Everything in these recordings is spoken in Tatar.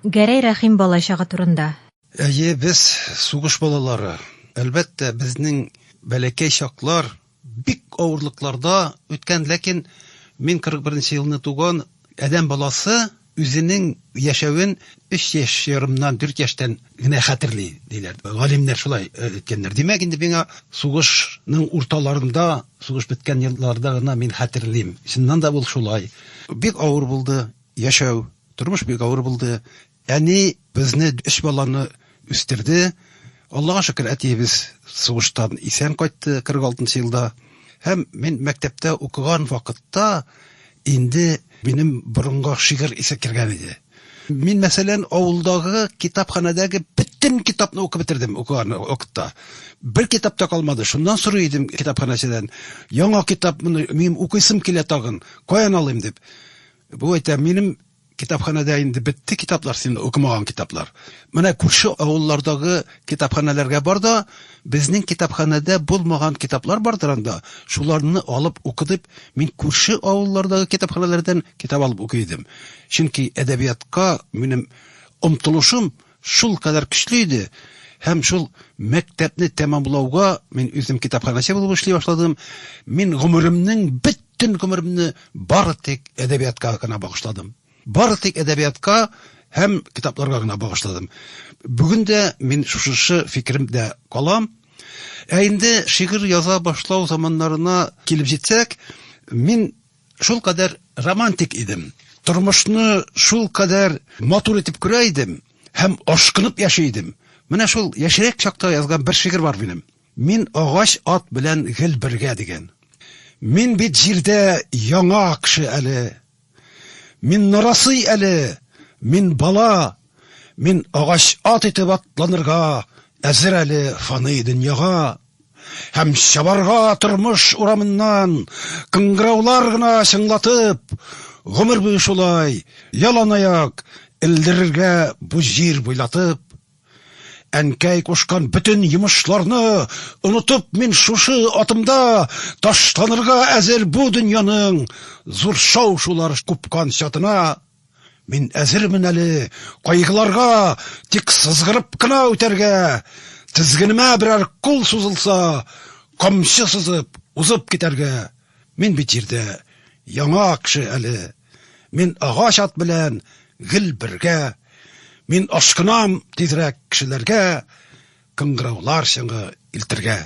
Гәрәй Рәхим балачагы турында. Әйе, без, сугыш балалары. Әлбәттә, безнең бәләкәй чаклар бик авырлыкларда үткән, ләкин мин 41 нче елны туган, адәм баласы үзенең яшәвен өч яшь ярымнан, дүрт яшьтән генә хәтерли, диләр. Галимнәр шулай әйткәннәр. Димәк, инде миңа сугышның урталарында, сугыш беткән елларда гына мин хәтерлим. Чыннан да, ул шулай. Бик авыр булды. Яшәү, тормыш бик авыр булды. Әни безне, өч баланы үстерде. Аллага шөкер, әтиебез сугыштан исән кайтты 46 нчы елда. Һәм мин мәктәптә укыган вакытта инде минем борынга шигырь исе кергән иде. Мин, мәсәлән, авылдагы китапханәдәге бөтен китапны укып бетердем укыган вакытта. Бер китап та калмады. Шуннан сорый идем китапханәчедән, яңа китапмыни, минем укыйсым килә тагын, каян алыйм дип. Бу әйтә, минем китапханәдә инде бетте китаплар, син укымаган китаплар. Менә күрше авыллардагы китапханәләргә бар да, безнең китапханәдә булмаган китаплар бардыр анда, шуларны алып укы дип, мин күрше авыллардагы китапханәләрдән китап алып укый идем. Чөнки әдәбиятка минем омтылышым Шул кадәр көчле иде һәм шул мәктәпне тәмамлауга мин үзем китапханәче булып эшли башладым. Мин гомеремнең бөтен гомеремне бары тик әдәбиятка гына багышладым. Бары тик әдәбиятка һәм китапларга гына багышладым. Бүген дә мин шушышы фикеремдә калам. Ә инде шигырь яза башлау заманнарына килеп җитсәк, мин Шул кадәр романтик идем, тормышны шул кадәр матур итеп күрә идем һәм ашкынып яши идем. Менә шул яшьрәк чакта язган бер шигырь бар минем. Мин агач ат белән гел бергә дигән. Мин бит җирдә яңа кеше әле. Мин нарасый әле, мин бала. Мин агач ат итеп атланырга әзер әле фани дөньяга. Һәм чабарга тормыш урамыннан кыңгыраулар гына чыңлатып, гомер буе шулай яланаяк элдерергә бу җир буйлатып. Әнкәй кушкан бөтен йомышларны онытып мин шушы атымда ташланырга әзер бу дөньяның зур шау-шулар купкан чатына. Мин әзермен әле кайгыларга, тик сызгырып кына үтәргә. Тезгенемә берәр кул сузылса, камчы сызып, узып китәргә. Мин бит җирдә яңа кеше әле. Мин агач ат белән гел бергә. Мин ашкынам тизрәк кешеләргә. кыңгыраулар чыңы илтергә.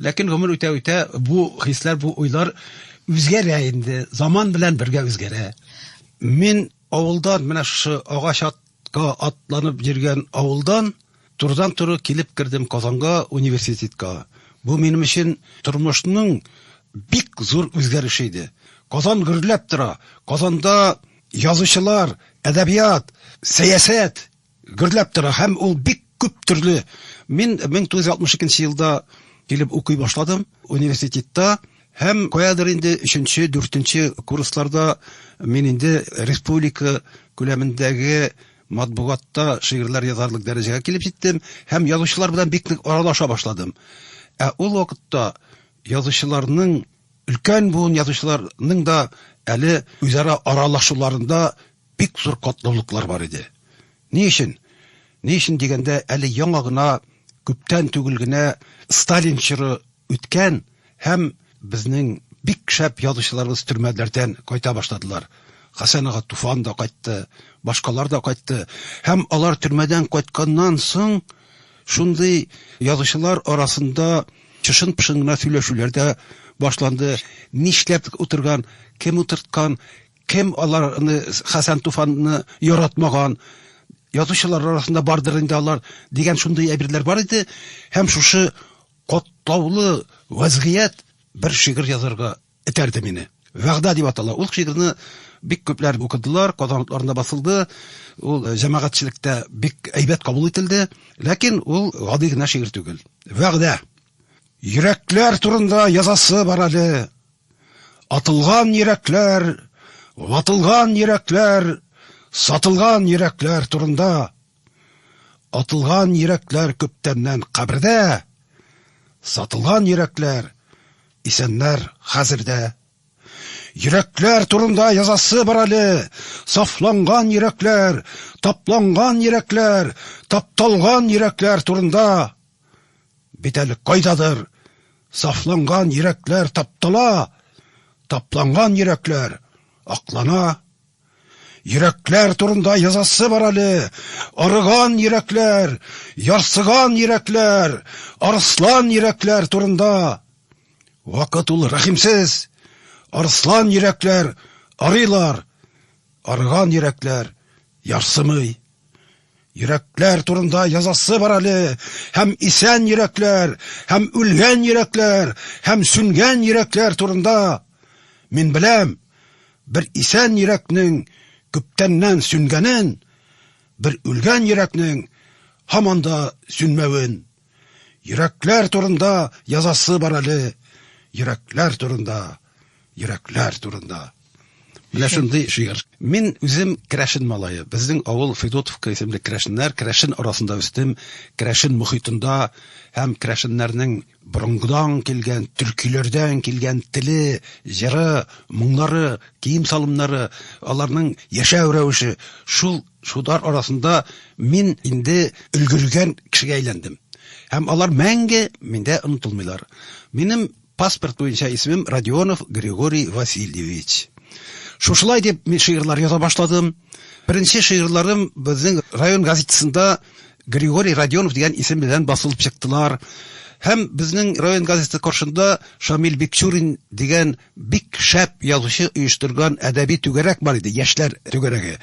Ләкин гомер үтә-үтә бу хисләр, бу уйлар үзгәрә инде, заман белән бергә үзгәрә. Мин авылдан, менә шушы агач атка атланып йөргән авылдан, турыдан-туры килеп кердем Казанга университетка. Бу минем өчен тормышның бик зур үзгәреше иде. Казан гөрләп тора, Казанда язучылар, әдәбият, сәясәт, Гөрләп тора һәм ул бик күп төрле. Мин 1962 елда килеп укый башладым университетта һәм каядыр инде өченче, дүртенче курсларда мин инде республика күләмендәге матбугатта шигырьләр язарлык дәрәҗәгә килеп җиттем һәм язучылар белән бик нык аралаша башладым. Ә ул вакытта язучыларның, өлкән буын язучыларның да әле үзара аралашуларында Бик зур катлаулыклар бар иде. Ни өчен? Ни өчен дигәндә, әле яңа гына, күптән түгел генә Сталин чоры үткән һәм безнең бик шәп язучыларыбыз төрмәләрдән кайта башладылар. Хәсән ага Туфан да кайтты, башкалар да кайтты. Һәм алар төрмәдән кайтканнан соң шундый язучылар арасында чышын-пышын гына сөйләшүләр дә башланды. Нишләп утырган, кем утырткан, Кем алар ны Хәсән Туфанны яратмаган, язучылар арасында бардыр инде алар, дигән шундый әйберләр бар иде, һәм шушы катлаулы вәзгыять бер шигырь язарга этәрде мине. Вәгъдә дип атала. Ул шигырьне бик күпләр укыдылар, Казан утларында басылды, ул җәмәгатьчелектә бик әйбәт кабул ителде, ләкин ул гади генә шигырь түгел. Вәгъдә! Йөрәкләр турында язасы бар әле. Атылган йөрәкләр, ватылган йөрәкләр, сатылган йөрәкләр турында. Атылган йөрәкләр күптәннән кабердә, сатылган йөрәкләр исәннәр хәзердә. Йөрәкләр турында язасы бар әле. Сафланган йөрәкләр, тапланган йөрәкләр, тапталган йөрәкләр турында. Бит әле кайдадыр сафланган йөрәкләр таптала, тапланган йөрәкләр аклана. Йөрәкләр турында язасы бар әле, арыган йөрәкләр, ярсыган йөрәкләр, арслан йөрәкләр турында. Вакыт ул рәхимсез, арслан йөрәкләр арыйлар, арыган йөрәкләр ярсымый. Йөрәкләр турында язасы бар әле, һәм исән йөрәкләр, һәм үлгән йөрәкләр, һәм сүнгән йөрәкләр турында. Мин беләм, бер исән йөрәкнең күптәннән сүнгәнен, бер үлгән йөрәкнең һаман да сүнмәвен. Йөрәкләр турында язасы бар әле. Йөрәкләр турында, йөрәкләр турында. Менә шундый шигырь. Мин үзем Крәшен малае. Безнең авыл Федотовка исемле Крәшеннәр, Крәшен арасында үстем, Крәшен мөхитендә һәм Крәшеннәрнең борынгыдан килгән, төркиләрдән килгән теле, җыры, моңнары, кием-салымнары, аларның яшәү рәвеше шул Шулар арасында мин инде өлгергән кешегә әйләндем. Һәм алар мәңге миндә онытылмыйлар. Минем паспорт буенча исемем Родионов Григорий Васильевич. Шушылай дип мин шигырьләр яза башладым. Беренче шигырьләрем безнең район газетасында Григорий Родионов дигән исем белән басылып чыктылар. Һәм безнең район газетасы каршында Шамил Бикчурин дигән Бик шәп язучы оештырган әдәби түгәрәк бар иде, яшьләр түгәрәге.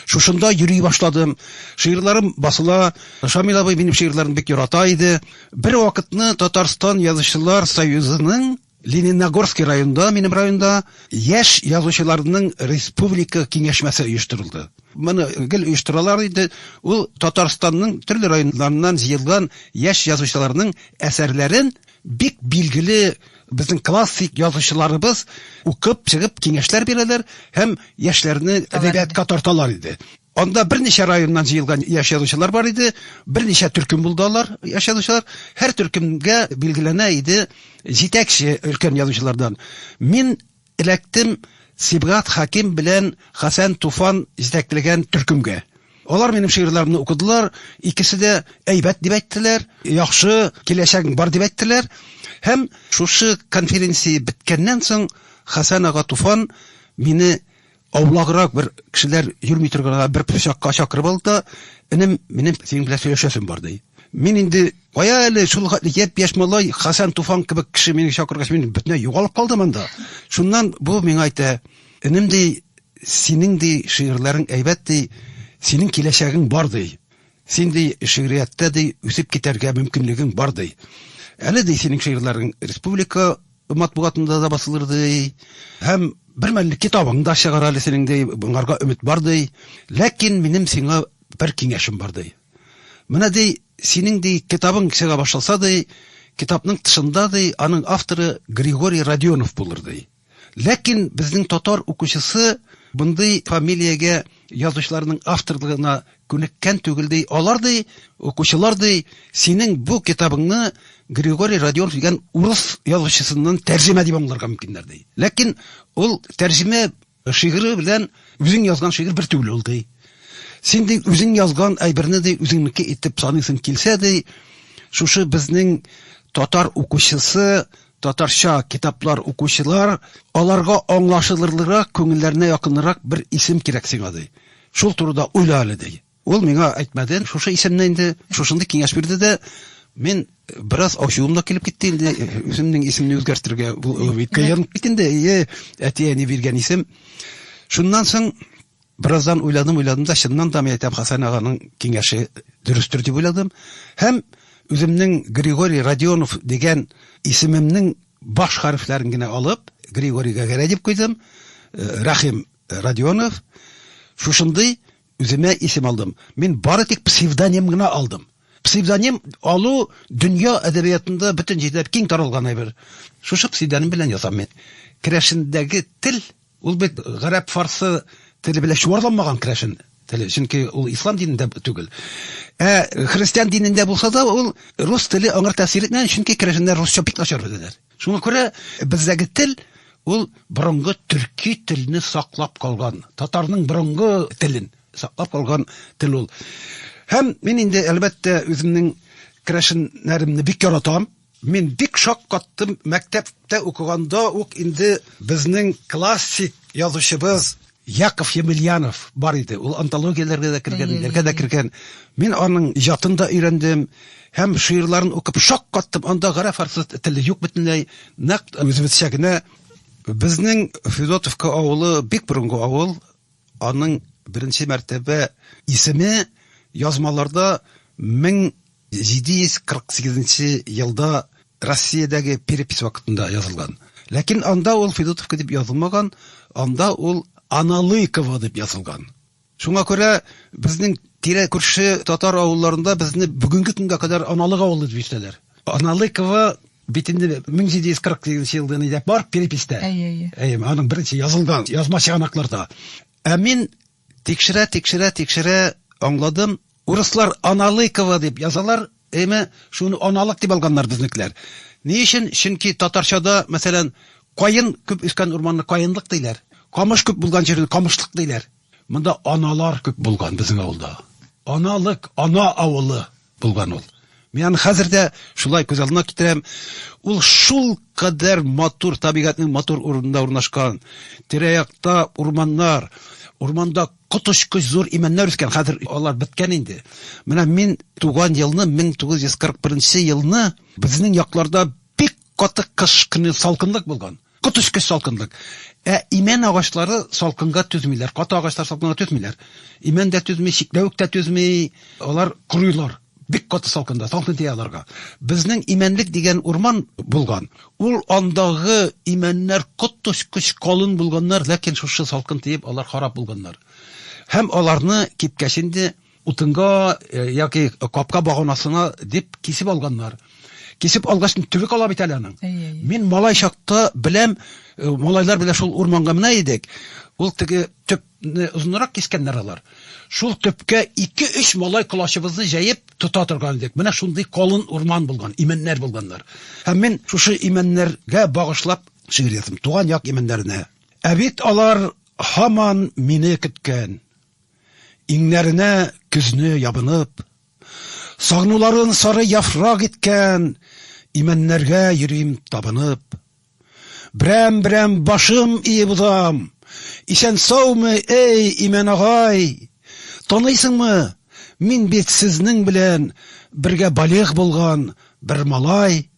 Шушында йөри башладым. Шигырьләрем басыла. Шамил абый минем шигырьләрне бик ярата иде. Бервакытны Татарстан Язучылар союзының Лениногорский районында, минем районда, яшь язучыларның республика киңәшмәсе оештырылды. Моны гел оештыралар иде. Ул Татарстанның төрле районнарыннан җыелган яшь язучыларның әсәрләрен бик билгеле, Безнең классик язучыларыбыз укып чыгып киңәшләр бирәләр һәм яшьләрне әдәбиятка тарталар иде. Анда берничә районнан җыелган яшь язучылар бар иде, берничә төркем булды алар, яшь язучылар. Һәр төркемгә билгеләнә иде җитәкче өлкән язучылардан. Мин Эләктем Сибгат Хәким белән Хәсән Туфан җитәкләгән төркемгә. Алар минем шигырьләремне укыдылар, икесе дә әйбәт дип әйттеләр, яхшы, киләчәгең бар дип әйттеләр. Һәм шушы конференция беткәннән соң Хәсән ага Туфан мине Аулаграк бер кешеләр йөрми торганга бер пычакка чакырып алды да, Энем, минем синең белән сөйләшәсем бар, ди. Мин инде, кая әле, шул хәтле япь-яшь малай, Хәсән Туфан кебек кеше мине чакыргач, мин бөтенләй югалып калдым анда. Шуннан бу миңа әйтә, Энем, ди, синең, ди, шигырьләрең әйбәт, ди, синең киләчәгең бар, ди. Син, ди, шигърияттә, ди, үсеп китәргә мөмкинлегең бар, ди. Әле, ди, синең шигырьләрең республика, матбугатында да басылыр ди һәм бермәлне китабың да чыгар әле синең ди моңарга өмет бар ди ләкин минем сиңа бер киңәшем бар ди менә ди синең ди китабың чыга башласа ди китапның тышында ди аның авторы григорий родионов булыр ди ләкин безнең татар укучысы мондый фамилиягә язучыларның авторлыгына Күнеккән түгел, ди. Алар, ди, укучылар, ди, синең бу китабыңны Григорий Родионов дигән урыс язучысыннан тәрҗемә дип аңларга мөмкиннәр, ди. Ләкин ул тәрҗемә шигыре белән үзең язган шигырь бер түгел ул, ди. Син, ди, үзең язган әйберне, ди, үзеңнеке итеп саныйсың килсә, ди, шушы безнең татар укучысы, татарча китаплар укучылар, аларга аңлашылырлырак, күңелләренә якынрак бер исем кирәк сиңа, ди. Шул турыда уйла әле, ди. Ул миңа әйтмәде шушы исемне инде, шушындый киңәш бирде дә, мин бераз ачуым да килеп китте инде, үземнең исемне үзгәртергә кыен бит инде, әйе, әти-әни биргән исем. Шуннан соң бераздан уйладым, уйладым да, чыннан да, мин әйтәм, Хәсән аганың киңәше дөрестер дип уйладым һәм үземнең Григорий Родионов дигән исемемнең баш хәрефләрен генә алып, Григорийга Гәрәй дип куйдым, Рәхим Родионов, Шушындый үземә исем алдым. Мин бары тик псевдоним гына алдым. Псевдоним алу дөнья әдәбиятында бөтен җирдә киң таралган әйбер. Шушы псевдоним белән язам мин. Керәшендәге тел, ул бит гарәп-фарсы теле белән чуарланмаган керәшен теле, чөнки ул ислам динендә түгел. Ә христиан динендә булса да, ул рус теле аңар тәэсир итмәгән, чөнки керәшеннәр русча бик начар беләләр. Шуңа күрә бездәге тел ул борынгы төрки телне саклап калган, татарның борынгы телен саклап калган тел ул. Һәм мин инде, әлбәттә, үземнең керәшеннәремне бик яратам. Мин бик шаккаттым, мәктәптә укыганда ук инде безнең классик язучыбыз Яков Емельянов бар иде. Ул антологияләргә дә кергән, ниләргә дә кергән. Мин аның иҗатын да өйрәндем һәм шигырьләрен укып шаккаттым. Анда гарәп-фарсы теле юк бөтенләй. Нәкъ үзебезчә генә. Безнең Федотовка авылы бик борынгы авыл. Аның беренче мәртәбә исеме язмаларда мең 748 нче елда Россиядәге перепись вакытында язылган. Ләкин анда ул Федотовка дип язылмаган, анда ул Аналыйково дип язылган. Шуңа күрә безнең тирә-күрше татар авылларында безне бүгенге көнгә кадәр Аналык авылы дип йөртәләр. Аналыково бит инде 1748 нче елдан әйдәп бар переписьтә. Әйе, әйе. Әйе, аның беренче язылган язма чыганакларда. Ә мин Тикшерә, тикшерә, тикшерә, аңладым, урыслар Аналыково дип язалар, әйме, шуны Аналык дип алганнар безнекеләр. Ни өчен? Чөнки татарчада, мәсәлән, каен күп үскән урманны каенлык диләр, камыш күп булган җирне камышлык диләр. Монда аналар күп булган безнең авылда. Аналык, ана авылы. Булган ул. Мин аны хәзер дә шулай күз алдына китерәм. Ул шулкадәр матур, табигатьнең матур урынында урнашкан. Тирә-якта урманнар, урманда коточкыч зур имәннәр үскән. Хәзер алар беткән инде. Менә мин туган елны, 1941 елны безнең якларда бик каты кыш көне салкынлык булган. Коточкыч салкынлык. Ә имән агачлары салкынга түзмиләр. Каты агачлар салкынга түзмиләр. Имән дә түзми, чикләвек тә түзми. Алар корыйлар. Бик каты салкында. Салкын тия аларга. Безнең имәнлек дигән урман булган. Ул андагы имәннәр коточкыч калын булганнар, ләкин шушы салкын тиеп алар харап булганнар. Һәм аларны кипкәч инде. Утынга яки капка баганасына дип кисеп алганнар. Кисеп алгач, төбе кала бит әле аның. Мин малай чакта беләм, малайлар белән шул урманга менә идек. Ул теге төпне озынрак кискәннәр алар. Шул төпкә ике-өч малай колачыбызны җәеп тота торган идек. Менә шундый калын урман булган, имәннәр булганнар. Һәм мин шушы имәннәргә багышлап шигырь яздым. Туган як имәннәренә. Ә бит алар һаман мине көткән. Иңнәренә көзне ябынып, Сагнуларын сары яфрак иткән Имәннәргә йөрим табынып. Берәм-берәм башым иеп узам, Исән-саумы, әй, Имән агай! Таныйсыңмы, мин бит сезнең белән Бергә балигъ булган бер малай.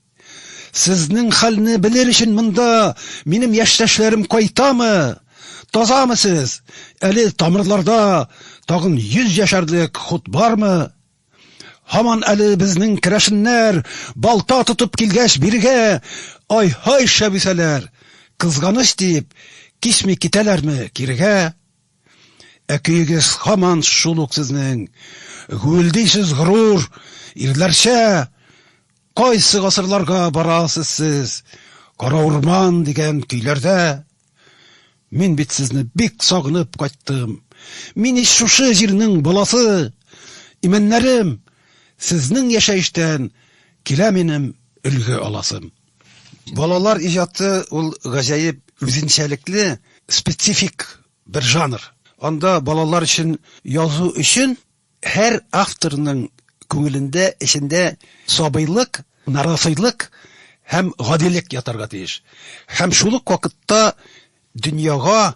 Сезнең хәлне белер өчен монда минем яшьтәшләрем кайтамы? Тазамы сез? Әле тамырларда тагын йөз яшәрлек хут бармы? Һаман әле безнең керәшеннәр балта тотып килгәч бирегә ай-һай шәбисәләр, кызганыч дип, кичми китәләрме кирегә? Ә көегез һаман шул ук сезнең. Гүелдисез горур, ирләрчә! Кайсы гасырларга барасыз сез? Кара урман дигән көйләрдә. Мин бит сезне бик сагынып кайттым. Мин ич шушы җирнең баласы. Имәннәрем, сезнең яшәештән килә минем өлге аласым. Балалар иҗаты ул гаҗәеп үзенчәлекле специфик бер жанр. Анда балалар өчен язу өчен һәр авторның күңелендә, эчендә сабыйлык, нараслык һәм гадилек ятарга тиеш. Һәм шул ук вакытта дөньяга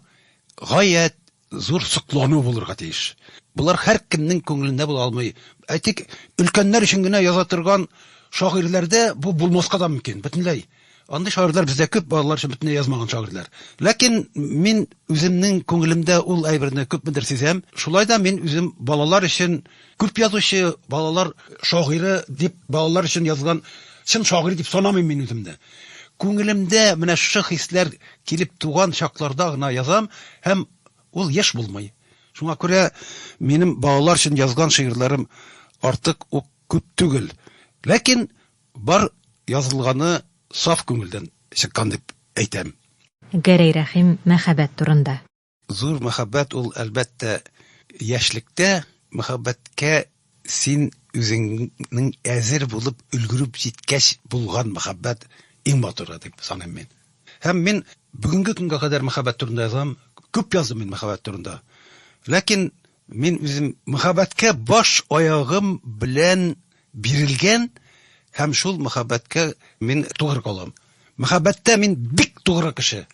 гаять зур соклану булырга тиеш. Болар һәркемнең күңелендә була алмый. Әйтик, өлкәннәр өчен генә яза торган шагыйрьләрдә бу булмаска да мөмкин, бөтенләй. Андый шагыйрьләр бездә күп, балалар өчен бөтенләй язмаган шагыйрьләр. Ләкин мин үземнең күңелемдә ул әйберне күпмедер сизәм. Шулай да мин үзем балалар өчен Күп язучы, балалар шагыйре дип балалар өчен язган чын шагыйрь дип санамыйм мин үземне. Күңелемдә менә шушы хисләр килеп туган чакларда гына язам һәм ул еш булмый. Шуңа күрә минем балалар өчен язган шигырьләрем артык ук күп түгел. Ләкин бар язылганы саф күңелдән чыккан дип әйтәм. Гәрәй Рәхим мәхәббәт турында. Зур мәхәббәт ул, әлбәттә, яшьлектә. Мәхәббәткә син үзеңнең әзер булып өлгереп җиткәч булган мәхәббәт иң матуры дип саныйм мин. Һәм мин бүгенге көнгә кадәр мәхәббәт турында язам, күп яздым мин мәхәббәт турында. Ләкин Мин үзем мәхәббәткә баш аягым белән бирелгән һәм шул мәхәббәткә мин тугры калам. Мәхәббәттә мин бик тугры кеше.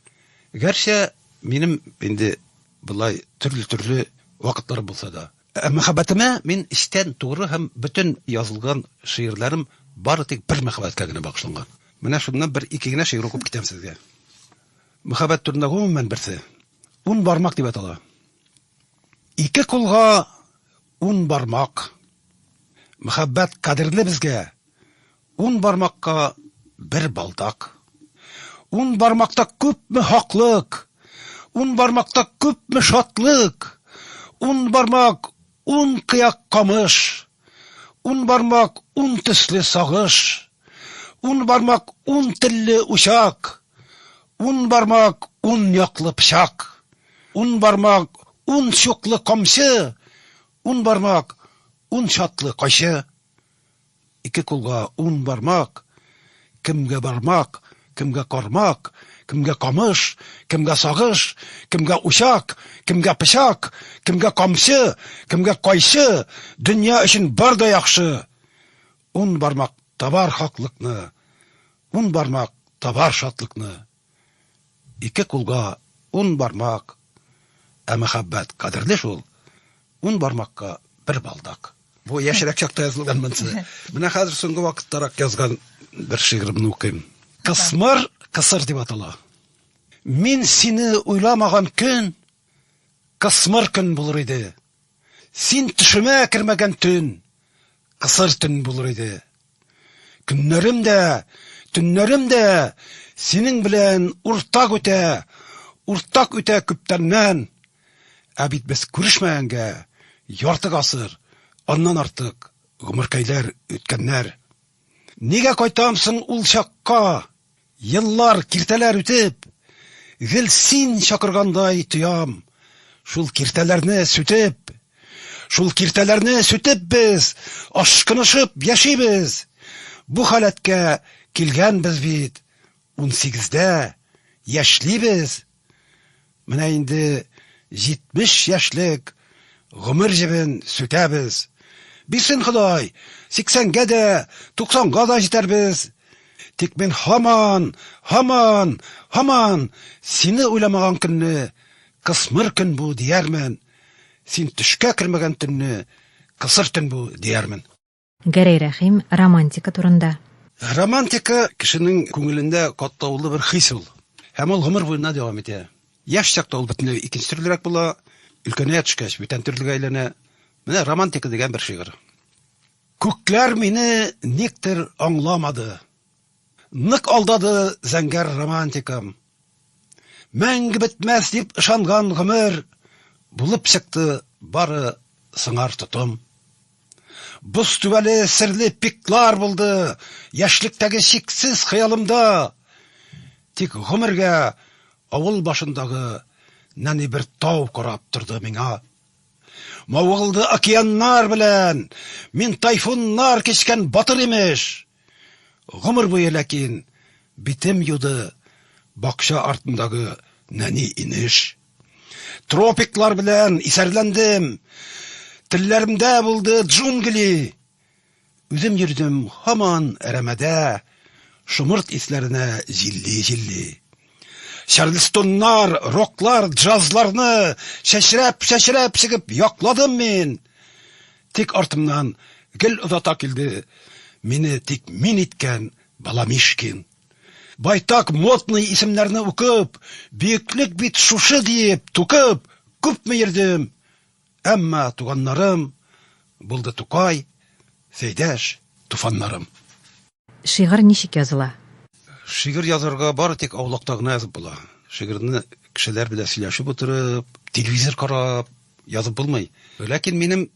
Гәрчә минем инде болай төрле-төрле вакытлар булса да. Ә мәхәббәтемә мин эчтән тугры һәм бөтен язылган шигырьләрем бары тик бер мәхәббәткә генә багышланган. Менә шуннан бер ике генә шигырь укып китәм сезгә. Мәхәббәт турында гомумән берсе ун бармак дип атала. Ике кулга ун бармак, Мөхәббәт кадерле безгә, Ун бармакка бер балдак. Ун бармакта күпме хаклык, Ун бармакта күпме шатлык, Ун бармак, ун кыяк камыш, Ун бармак, ун төсле сагыш, Ун бармак, ун телле учак, Ун бармак, ун яклы пычак, Ун бармак, ун чуклы камчы, Ун бармак, ун чатлы кайчы. Ике кулга ун бармак, Кемгә бармак, кемгә кармак, Кемгә камыш, кемгә сагыш, Кемгә учак, кемгә пычак, Кемгә камчы, кемгә кайчы, Дөнья өчен бар да яхшы. Ун бармак табар хаклыкны, Ун бармак табар шатлыкны. Ике кулга ун бармак, Ә мәхәббәт кадерле шул, Ун бармакка бер балдак. Бу яшьрәк чакта язылган монсы. Менә хәзер соңгы вакыттарак язган бер шигыремне укыйм. Кысмыр кысыр дип атала. Мин сине уйламаган көн Кысмыр көн булыр иде. Син төшемә кермәгән төн Кысыр төн булыр иде. Көннәрем дә, төннәрем дә Синең белән уртак үтә, Уртак үтә күптәннән. Ә бит без күрешмәгәнгә Ярты гасыр, аннан артык Гомеркәйләр үткәннәр. Нигә кайтам соң ул чакка? Еллар, киртәләр үтеп, Гел син чакыргандай тоям. Шул киртәләрне сүтеп, Шул киртәләрне сүтеп без Ашкынышып яшибез. Бу халәткә килгәнбез бит, Унсигездә яшьлибез. Менә инде 70 яшьлек гомер җебен сүтәбез. Бирсен Ходай, сиксәнгә дә, туксанга да җитәрбез. Тик мин һаман, һаман, һаман сине уйламаган көнне кысмыр көн бу, диярмен, син төшкә кермәгән төнне кысыр төн бу, диярмен. Гәрәй Рәхим, романтика турында. Романтика, кешенең күңелендә катлаулы бер хис ул. Һәм ул гомер буена дәвам итә. Яшь чакта ул бөтенләй икенче төрлерәк була, өлкәнәя төшкәч, бүтән төрлегә әйләнә. Менә романтика дигән бер шигырь. Күкләр мине никтер аңламады, Нык алдады зәңгәр романтикам. Мәңге бетмәс дип ышанган гомер, Булып чыкты бары сыңар тотым. Боз түбәле серле пиклар булды, Яшьлектәге чиксез хыялымда. Тик гомергә авыл башындагы Нәни бер тау карап торды миңа. Мавыгылды океаннар белән, Мин тайфуннар кичкән батыр имеш. Гомер буе ләкин битем юды Бакча артындагы нәни инеш. Тропиклар белән исәрләндем, Телләремдә булды джунгли. Үзем йөрдем һаман әрәмәдә, Шомырт исләренә җилли-җилли. Чарльстоннар, роклар, джазларны чәчрәп, чәчрәп чыгып якладым мин. Тик артымнан гел озата килде мине тик мин иткән Баламишкин. Байтак модный исемнәрне укып, бөеклек бит шушы диеп, тукып, күпме йөрдем. Әмма туганнарым булды Тукай, Сәйдәш, туфаннарым. Шигырь ничек языла? Шигырь язарга бары тик аулакта гына язып була. Шигырьне кешеләр белән сөйләшеп утырып, телевизор карап язып булмый. Ләкин минем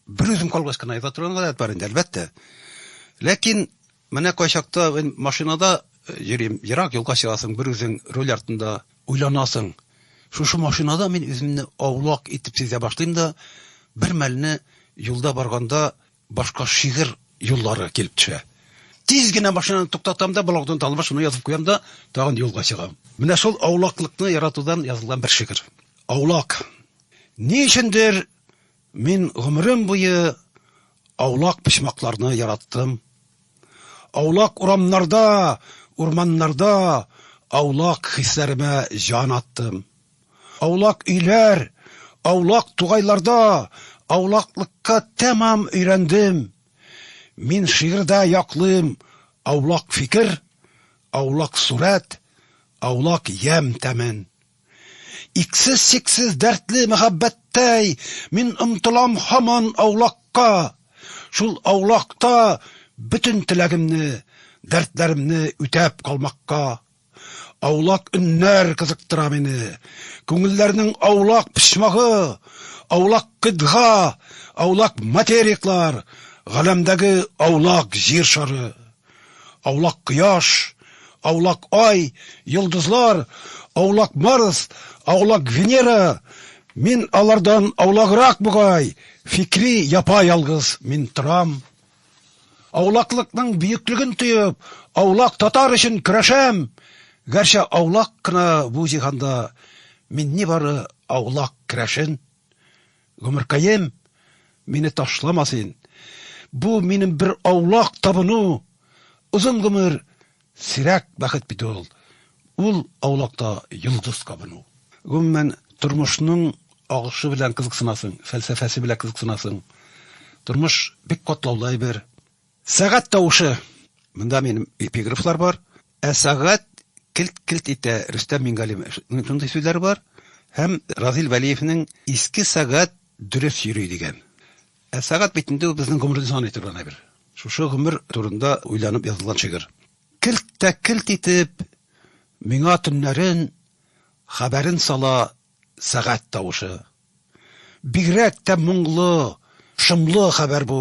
бер үзем калгач кына яза торган гадәт бар инде, әлбәттә. Ләкин менә кайчакта мин машинада йөрим, ерак юлга чыгасың, бер үзең руль артында уйланасың. Шушы машинада мин үземне аулак итеп сизә башлыйм да, бермәлне юлда барганда Башка шигырь юллары килеп төшә. Тиз генә машинаны туктатам да, блогдан талыма шуны язып куям да, тагын юлга чыгам. Менә шул аулаклыкны яратудан язылган бер шигырь. Аулак. Ни өчендер мин гомерем буе аулак почмакларны яраттым. Аулак урамнарда, урманнарда аулак хисләремә җан аттым. Аулак өйләр, аулак тугайларда аулаклыкка тәмам өйрәндем. Мин шигырьдә яклыйм аулак фикер, аулак сурәт, аулак ямь тәмен. Иксез-чиксез дәртле мәхәббәттәй мин омтылам һаман аулакка, шул аулакта бөтен теләгемне, дәртләремне үтәп калмакка. Аулак өннәр кызыктыра мине. Күңелләрнең аулак почмагы, аулак кыйтга, аулак материклар, галәмдәге аулак җир шары. Аулак кояш, аулак ай, йолдызлар, аулак Марс, аулак Венера, мин алардан аулаграк бугай, фикри япа-ялгыз мин торам. Аулаклыкның бөеклеген тоеп, аулак татар өчен көрәшәм! Гәрчә аулак кына бу җиһанда мин нибары аулак керәшен. Гомеркаем, мине ташлама син! Бу минем бер аулак табыну! Озын гомер, Сирәк бәхет бит ул. Ул, аулакта йолдыз кабыну. Гомумән, тормышның агышы белән кызыксынасың, фәлсәфәсе белән кызыксынасың. Тормыш бик катлаулы әйбер. Сәгать тавышы. Монда минем эпиграфлар бар. Ә сәгать келт-келт итә, Рөстәм Миңгалимовның шундый сүзләре бар һәм Разил Вәлиевнең Иске сәгать дөрес йөри дигән. Ә сәгать бит инде ул безнең гомерне саный торган әйбер. Шушы гомер турында уйланып язылган шигырь. Келт тә келт итеп, миңа төннәрен хәбәрен сала сәгать тавышы. Бигрәк тә моңлы, шомлы хәбәр бу,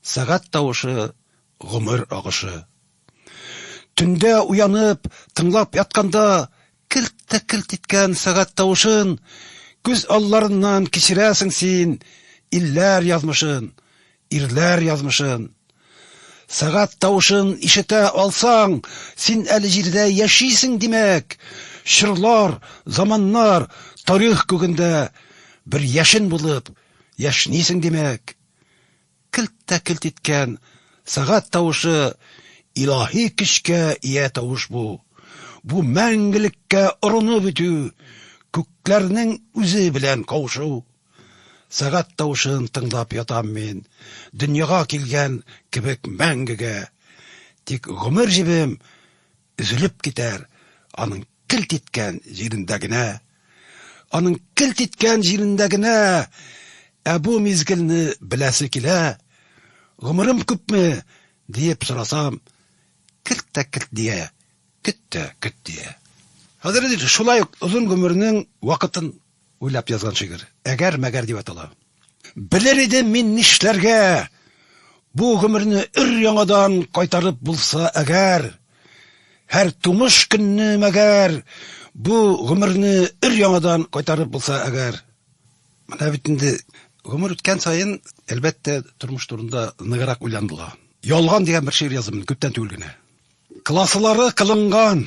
сәгать тавышы, гомер агышы. Төндә уянып, тыңлап ятканда, керт тә керт иткән сәгать тавышын Күз алларыннан кичерәсең син илләр язмышын, ирләр язмышын. Сәгать тавышын ишетә алсаң, син әле җирдә яшисең, димәк! Чорлар, заманнар, тарих күгендә бер яшен булып яшнисең, димәк! Келт тә келт иткән сәгать тавышы Илаһи көчкә ия тавыш бу. Бу мәңгелеккә орынып үтү, күкләрнең үзе белән кавышу. Сәгать тавышын тыңлап ятам мин, дөньяга килгән кебек мәңгегә. Тик гомер җебем Өзелеп китәр аның келт иткән җирендә генә. Аның келт иткән җирендә генә. Ә бу мизгелне беләсе килә. Гомерем күпме? диеп сорасам, Келт тә келт дия, көт тә көт дия. Хәзер инде шулай ук озын гомернең вакытын Уйлап язган шигырь. Әгәр мәгәр дип атала. Белер идем мин нишләргә, Бу гомерне өр-яңадан Кайтарып булса әгәр. Һәр тумыш көнне мәгәр, Бу гомерне өр-яңадан Кайтарып булса әгәр. Менә бит инде гомер үткән саен, әлбәттә, тормыш турында ныграк уйланыла. Ялган дигән бер шигырь яздым мин күптән түгел генә. Класылары кылынган.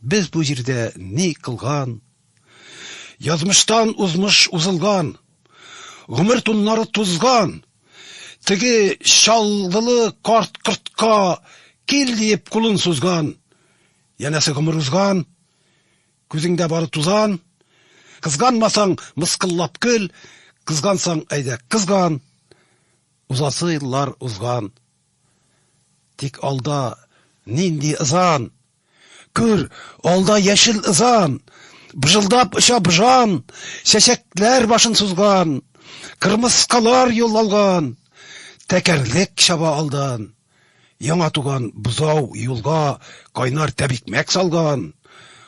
Без бу җирдә ни кылган? Язмыштан узмыш узылган, Гомер туннары тузган. Теге Чаллылы карт кортка Кил диеп кулын сузган. Янәсе гомер узган, Күзеңдә бары тузан. Кызганмасаң, мыскыллап көл, Кызгансаң, әйдә, кызган. Узасы еллар узган. Тик алда нинди ызан! Күр, алда яшел ызан, Быжылдап оча быжан, Чәчәкләр башын сузган, Кырмыскалар юл алган. Тәкәрлек чаба алдан. Яңа туган бозау юлга Кайнар тәбикмәк салган.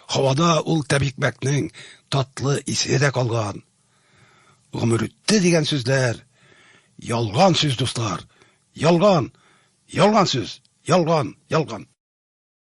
Һавада ул тәбикмәкнең Татлы исе дә калган. Гомер үтте дигән сүзләр, Ялган сүз, дуслар, ялган, Ялган сүз, ялган, ялган.